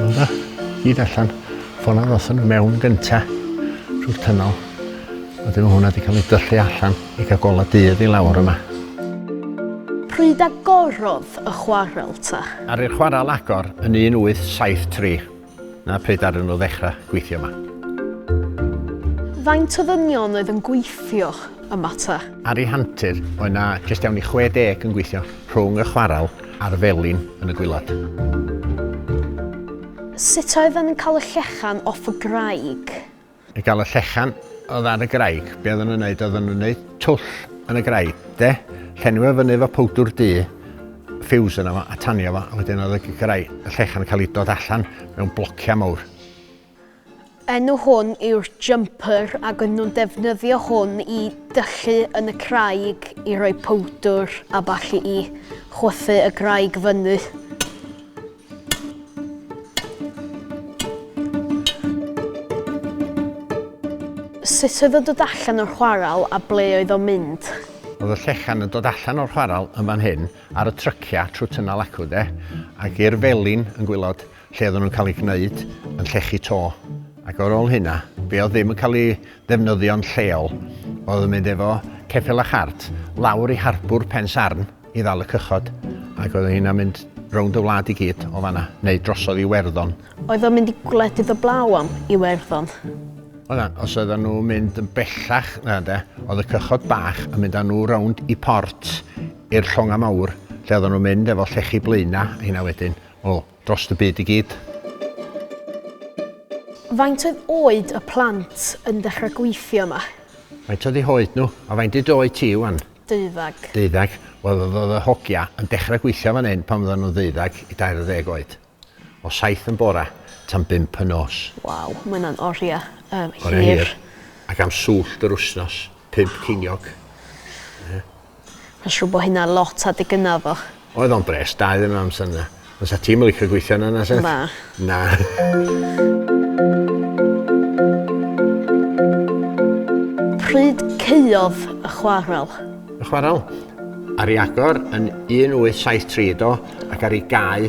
Ora, hyd allan. Ffona ddothon nhw mewn gynta trwy'r tynol. A dyma hwnna wedi cael ei dyllu allan i gael gola dydd i lawr yma. Pryd agorodd y chwarel ta? Ar i'r chwarel agor yn 1873. 'na pryd ddaru nhw ddechra gweithio 'ma. Faint o ddynion oedd yn gweithio yma ta? Ar ei hantur, oedd 'na jyst iawn i 60 yn gweithio, rhwng y chwarel a'r felin yn y gwilod. Sut oedden nhw'n cael y llechen off y graig? I gael y llechan oedd ar y graig, be oedden nhw'n neud, oedden nhw'n neud twll yn y graig, de? Llenwi fo fyny efo powdwr du, ffiws yna fo, a tanio fo, a wedyn oedd y graig, y llechan yn cael ei dod allan mewn blociau mawr. Enw hwn yw'r jumper ac yn nhw'n defnyddio hwn i dyllu yn y craig i roi powdwr a ballu i chwythu y graig fyny. Sut oedd o'n dod allan o'r chwarel a ble oedd o'n mynd? Oedd y llechan yn dod allan o'r chwarel yn fan hyn ar y trycia trwy tynnal acw de, ac i'r felin yn gwylod lle oedden nhw'n cael ei gwneud yn llechu to. Ac ar ôl hynna, be oedd ddim yn cael ei ddefnyddio'n lleol oedd yn mynd efo ceffyl a chart lawr i harbwr Pen Sarn, i ddal y cychod, ac oedden ni'n am mynd rownd y wlad i gyd o fanna, neu drosodd i Werddon. Oedd o'n mynd i gwledydd o blaw am Iwerddon? Oedd a, os oedden nhw'n mynd yn bellach na de, oedd y cychod bach yn mynd â nhw rownd i port i'r llonga mawr, lle oedden nhw'n mynd efo llechi blaenau, heina wedyn, o, Dros y byd i gyd. Faint oedd oed y plant yn dechrau gweithio yma? Faint oedd eu hoed nhw? A faint dy oed ti ŵan? Deuddeg. Deuddeg. Wel oedd oedd y hogia yn dechrau gweithio fan hyn pan oedden nhw'n ddeuddeg i dair ar ddeg oed. O saith yn bora tan bump y nos. Waw, mae hynna'n oriau hir. Oriau hir. Ac am swllt yr wsnos, pump ceiniog. Ie. Ma'n siŵr bo hynna lot adeg gynna oddach. Oedd o'n bres da iddyn nhw amser 'na. Ond sa ti'm yn licio gweithio yna na sut? Na. Na. Pryd caeodd y chwarel? Y chwarel? Ar i agor yn 1873 do ac ar i gau